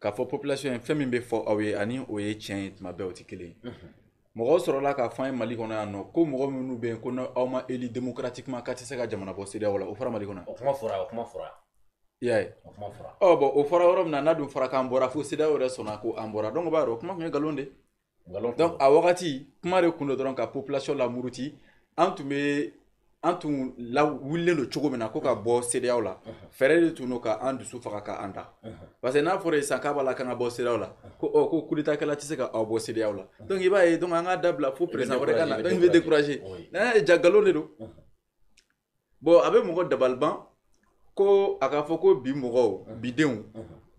k'a fɔ population ye fɛn min bɛ fɔ aw ye ani o ye tiɲɛ ye tuma bɛɛ o tɛ kelen ye mɔgɔw sɔrɔla k'a fɔ an ye mali kɔnɔ yan nɔ ko mɔgɔ minnu bɛ yen ko n'aw ma élu démocratiquement k'a tɛ se ka jamana bɔ CEDEAO la o fɔra mali kɔnɔ o kuma fɔra o kuma fɔra i y'a ye o kuma fɔra ɔ bɔn o fɔra yɔrɔ min na n'a dun fɔra k'an bɔra fo CEDEAO yɛrɛ sɔnna ko an bɔra donc o b'a yira o kuma tun ye nkalon de ye donc a wagati kuma de kun don dɔrɔn ka population lamuruti an tun bɛ an tun lawulilen don cogo min na ko ka bɔ CEDEAO la fɛɛrɛ de tun don ka an dusu faga ka an da parce que n'a fɔra i ye sisan k'a b'a la k'an ka bɔ CEDEAO la ko ɔ ko coup d'état kɛla tɛ se ka aw bɔ CEDEAO la donc i b'a ye donc an k'a dabila fo président wɛrɛ ka na donc i bɛ décourager n'a ye jaa nkalon de don bɔn a bɛ mɔgɔ dabaliban ko a k'a fɔ ko bi mɔgɔw bidenw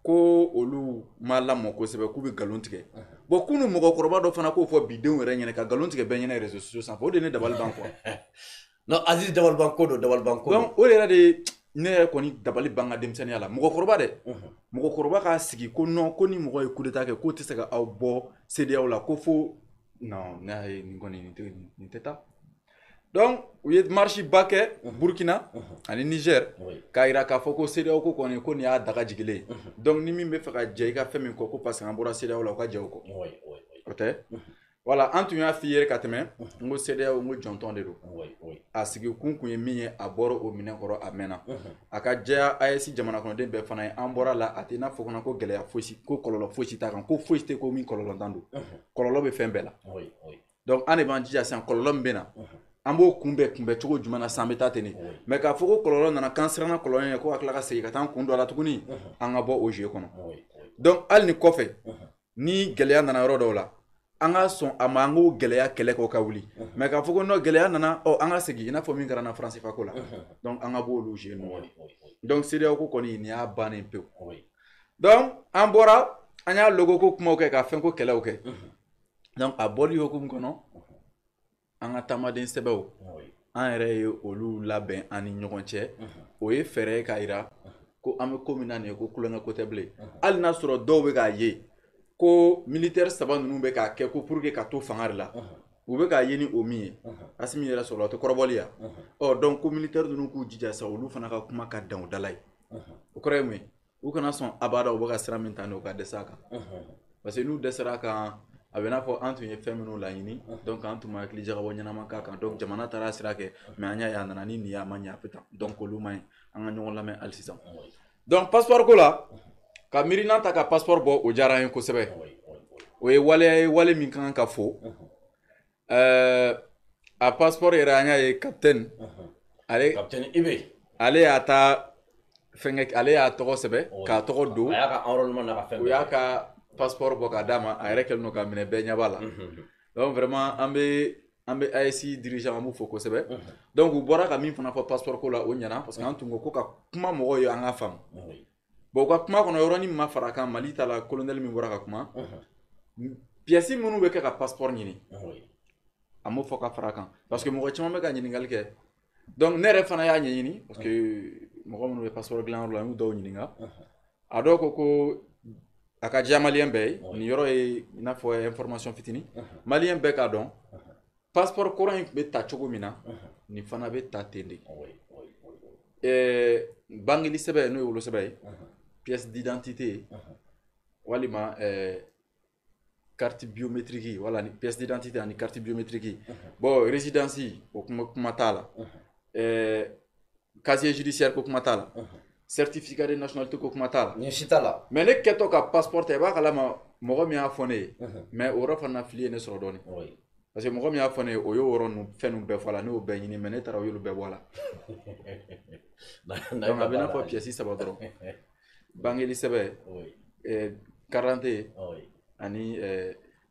ko olu ma lamɔ kosɛbɛ k'u bɛ nkalon tigɛ bɔn kunu mɔgɔkɔrɔba dɔ fana k'o fɔ bidenw yɛrɛ ɲɛna ka nkalon tigɛ bɛɛ ɲɛna réseaux sociaux sanfɛ o de ye ne dabaliban quoi non aziz dabaliban ko don dabaliban ko donc o yɛrɛ de ne yɛrɛ kɔni dabali ban ka denmisɛnninya la mɔgɔkɔrɔba dɛ mɔgɔkɔrɔba k'a sigi ko non ko ni mɔgɔ ye coup d'état kɛ k'o tɛ se ka aw bɔ CEDEAO la ko fo non ne y'a ye nin kɔni nin tɛ taa donc u ye marche ba kɛ burkina ani niger k'a yira k'a fɔ ko CEDEAO ko kɔni ko nin y'a daga jigilen donc ni min bɛ fɛ ka jɛ i ka fɛn min kɔ ko parce que an bɔra CEDEAO la u ka jɛ o kɔ o tɛ voilà an tun y'a f'i ye ka tɛmɛ n ko CEDEAO n ko jɔntɔn de don a sigi kun kun ye min ye a bɔra o minɛn kɔrɔ a mɛnna a ka jɛya AES jamana kɔnɔden bɛɛ fana ye an bɔra a la a tɛna fɔ fana ko gɛlɛya fosi ko kɔlɔlɔ fosi t'a kan ko fosi tɛ ko min kɔlɔlɔntan don kɔlɔlɔ bɛ fɛn bɛɛ la donc an de b'an jija sisan kɔlɔlɔ min bɛ na an b'o kunbɛn kunbɛn cogo jumɛn na sisan an bɛ taa ten de mais k'a fɔ ko kɔlɔlɔ nana k'an siranna kɔlɔlɔ ye ko ka tila ka segin ka taa an kun don a la tuguni an ka bɔ o jeu kɔnɔ donc hali ni kɔfɛ ni gɛlɛya nana yɔrɔ dɔw la an ka sɔn a ma an k'o gɛlɛya kɛlɛ k'o ka wuli mais k'a fɔ ko non gɛlɛya nana ɔ an ka segin i n'a fɔ min kɛra an na franc CFA ko la donc an ka bɔ olu jeu nɔgɔ de donc CEDEAO ko kɔni nin y'a bannen pewu donc an bɔra an y'a logo ko kumaw kɛ ka fɛn ko kɛlɛw kɛ donc a bɔli hukumu kɔnɔ an ka taamaden sɛbɛnw an yɛrɛ ye olu labɛn an ni ɲɔgɔn cɛ o ye fɛɛrɛ ye k'a yira ko an bɛ ko min na nin ye ko tulonkɛ ko tɛ bilen hali n'a sɔrɔ dɔw bɛ k'a ye ko militaire saba ninnu bɛ k'a kɛ ko pour que ka to fanga de la u bɛ k'a ye ni o min ye asimi yɛrɛ sɔrɔla o tɛ kɔrɔbɔli ya ɔ donc ko militaire ninnu k'u jija sa olu fana ka kuma ka dan u da la yen o kɔrɔ ye mun ye u kana sɔn abada u bɛ ka sira min ta ni u ka dɛsɛ a kan parce que n'u dɛsɛra a kan a bɛ n'a fɔ an tun ye fɛn minnu laɲini donc an tun ma hakili jagabɔ ɲɛnama k'a kan donc jamana taara a sira kɛ mais an y'a ye a nana ni nin ye a ma ɲɛ a bɛ tan donc olu man ɲi an ka ɲɔgɔn lamɛn hali sisan donc passeport ko la ka miirinan ta ka passeport bɔ o diyara an ye kosɛbɛ o ye waleya ye wale min ka kan ka fo Ɛɛ a passeport yɛrɛ an y'a ye capitaine ale capitaine Ibe ale y'a ta fɛnkɛ ale y'a tɔgɔ sɛbɛn oui k'a tɔgɔ don a y'a ka enrôlement n'a ka fɛn bɛɛ kɛ u y'a ka passeport bɔ k'a d'a ma a yɛrɛ kɛlen don k'a minɛ bɛɛ ɲɛ b'a la unhun unhun donc vraiment an bɛ an bɛ AES dirigeant an b'u fo kosɛbɛ unhun donc u bɔra ka min fana fɔ passeport ko la o ɲɛna parce que an tun ko k'u ka kuma mɔgɔw ye an k'a faamu oui bon u ka kuma kɔnɔ yɔrɔnin min ma fara a kan Mali ta la colonel min bɔra ka kuma pièces minnu bɛ kɛ ka passeport ɲini a m'o fɔ ka fara a kan parce que mɔgɔ caman bɛ ka ɲininkali kɛ donc ne yɛrɛ fana y'a ɲɛɲini parce que mɔgɔ minnu bɛ passeport dilanyɔrɔ la n y'u dɔw ɲininka a dɔw ko ko a ka diya maliyɛn bɛɛ ye nin yɔrɔ ye i n'a fɔ information fitinin maliyɛn bɛɛ k'a dɔn passeport kɔrɔ in tun bɛ ta cogo min na nin fana bɛ ta ten de bangeli sɛbɛn n'o ye wolosɛbɛn ye pièce d'identité walima carte biométrique wala ni pièce d'identité ani carte biométrique bon résidence o ko kuma t'a la casier judiciaire ko kuma t'a la certificat de nationalité ko kuma t'a la nin si t'a la mais ne kɛtɔ ka passeport ta i b'a kalama mɔgɔ min y'a fɔ ne ye mais o yɔrɔ fana fili ye ne sɔrɔ dɔɔnin parce que mɔgɔ min y'a fɔ ne ye o y'o yɔrɔ ninnu fɛn ninnu bɛɛ fɔ a la ne y'o bɛɛ ɲini mais ne taara o y'olu bɛɛ bɔ a la donc a bɛ n'a fɔ pièce saba dɔrɔn bangeli sɛbɛn carte d'identité ani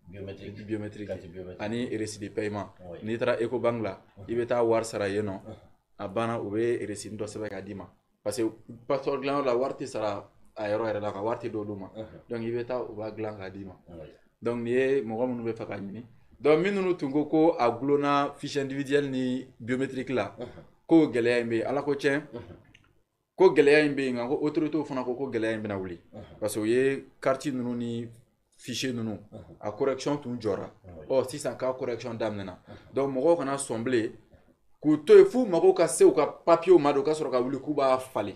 biométrique du biométrique carte biométrique ani reçu de paiement Oui. n'i taara ecobank la i bɛ taa wari sara yen nɔ a banna u bɛ reçu dɔ sɛbɛn k'a d'i ma parce que passeport dilanyɔrɔ la wari tɛ sara a yɔrɔ yɛrɛ la ka wari tɛ d'olu ma donc i bɛ taa u b'a dilan k'a d'i ma Oui. donc nin ye mɔgɔ minnu b'a fɛ k'a ɲini donc minnu tun ko ko a gulonna fiche individuelle ni biométrique la ko gɛlɛya in bɛ yen Ala ko tiɲɛ ko gɛlɛya in bɛ yen nka ko autorités fana ko ko gɛlɛya in bɛna wuli parce que u ye carte ninnu ni fichier ninnu a correction tun jɔra ɔ sisan k'a correction daminɛna donc mɔgɔw kana sɔn bilen k'u to yen f'u mago ka se u ka papiyew ma de u ka sɔrɔ ka wuli k'u b'a falen